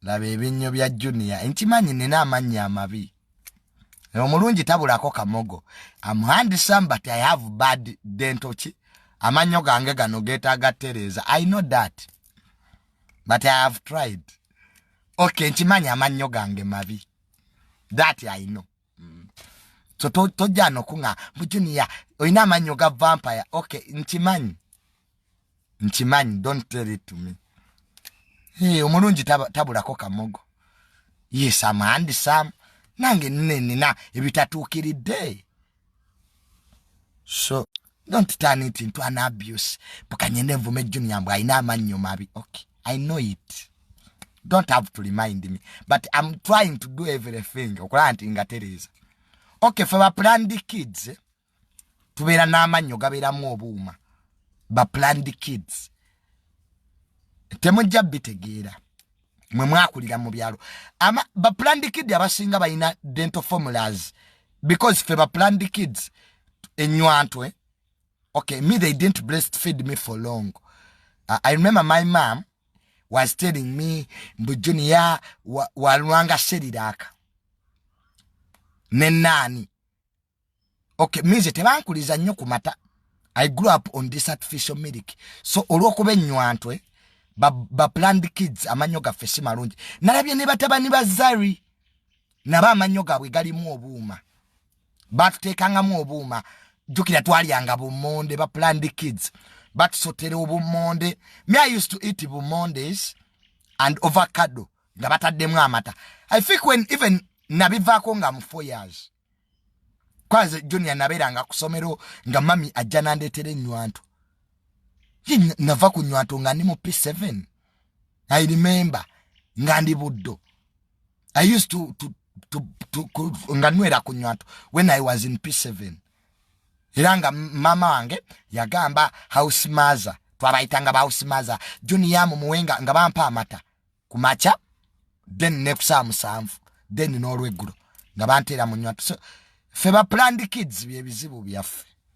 laba ebinnyo bya junia nkimanyi nina amannya amabi omulungi tabulako kamogo amhandisam but i have bad dentoki amannyo gange gano getaaga tereeza i know that but i have tried okay nkimanyi amannyo gange mabi that i know so tojja nokuŋa mu junior olina amannyo ga vampire ok nkimanyi nkimanyi don't tell it to me hey, omulungi tabulako kamogo yes am handsome nange nina ebitatuukiridde so don't turn it into an abuse bukanyenda envuma ejunior mbu alina amannyo mabi okay i know it don't have to remind me but im trying to do everything okulaba nti nga tereeza okay fe baplanned kids tubeera n'amannyo gabeeramu obuuma baplanned kids temujja bitegeera mwe mwakulira mu byalo ama ba planned kid abasinga balina dental formulas because fe ba planned kids enywantwe okay me they didn't breastfeed me for long uh, i remember my mom was telling me mbu junior walwanga wa seriraka ne nani okay minze tebankuliza nnyo ku mata i grew up on this artificial milk so olwokuba ennywanto baplanned ba kids amannyo gaffe si malungi nalabye ne batabani ba zari nabo amannyo gaabwe galimu obuuma batuteekangamu obuuma jjukira twalyanga bumonde baplanned kids batusotera obumonde me i used to eat bumondes and ovacado nga bataddemu amata i think when even nabivaako nga mu four years kwanze junior nabeeranga ku somero nga mami ajja nandeetera ennywanto nava ku nywanto nga ndi mu p7 i remember nga ndi buddo i used to, to, to, to, to nga nwera ku nywanto when i was in p7 era nga mama wange yagamba house maza twabayitanga ba house maza junior mumuwenga nga bampa amata ku makya then ne ku saa musanvu then n'olweggulo nga banteera mu nywa ffe ba planned kids bye bizibu byaffe